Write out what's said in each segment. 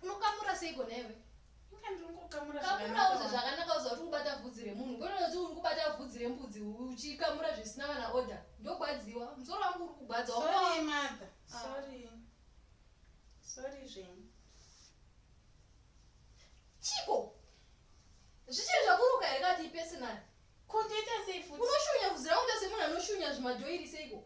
unokamura seiko newe kamurauze zvakanaka uza kuti kubata vhudzi remunhu ngonozi uri kubata vhudzi rembudzi uchikamura zvisina kana order ndogwadziwa musoro wangu uri kugwadziwa chiko zvichiri zvakuruka here kati ipesinari kundita sei futi unoshunya vhudzi rangu ndase munhu anoshunya zvimadhoiri seiko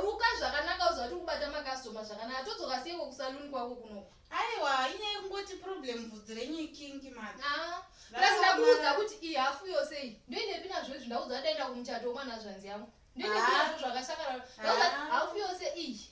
ruka zvakanaka uziva kuti kubata makastoma zvakanaka todzoka seiko kusaluni kwako kunoko aiwa inyaya yekungoti problem vhudzi renyu ikingi mani ah, plus ndakuudza kuti iyi hafu yose iyi ndoinepi nazvo izvi ndaudza ndaenda kumuchato wemwana zvanzi yangu ndoinepi ah. nazvo zvakashakara ah. hafu yose iyi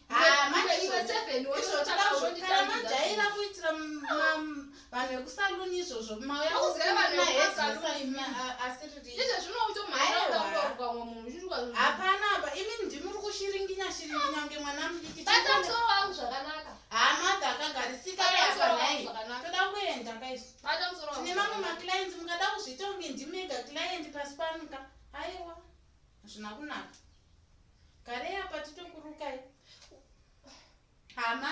Ah, manje iwe seven wotakauronditaiva kuitira vanhu vekusaluni izvozvo mauyahapana apa imi ndimi uri kushiringinya shiringinya kunge mwana mudikimusoro wangu zvakanaka haa madha akagarisika apanai toda kuenda kaisu tine mamwe maclients mukada kuzviita kunge ndimega client pasi panuka aiwa hazvina kunaka Garei apa titokurukai hama.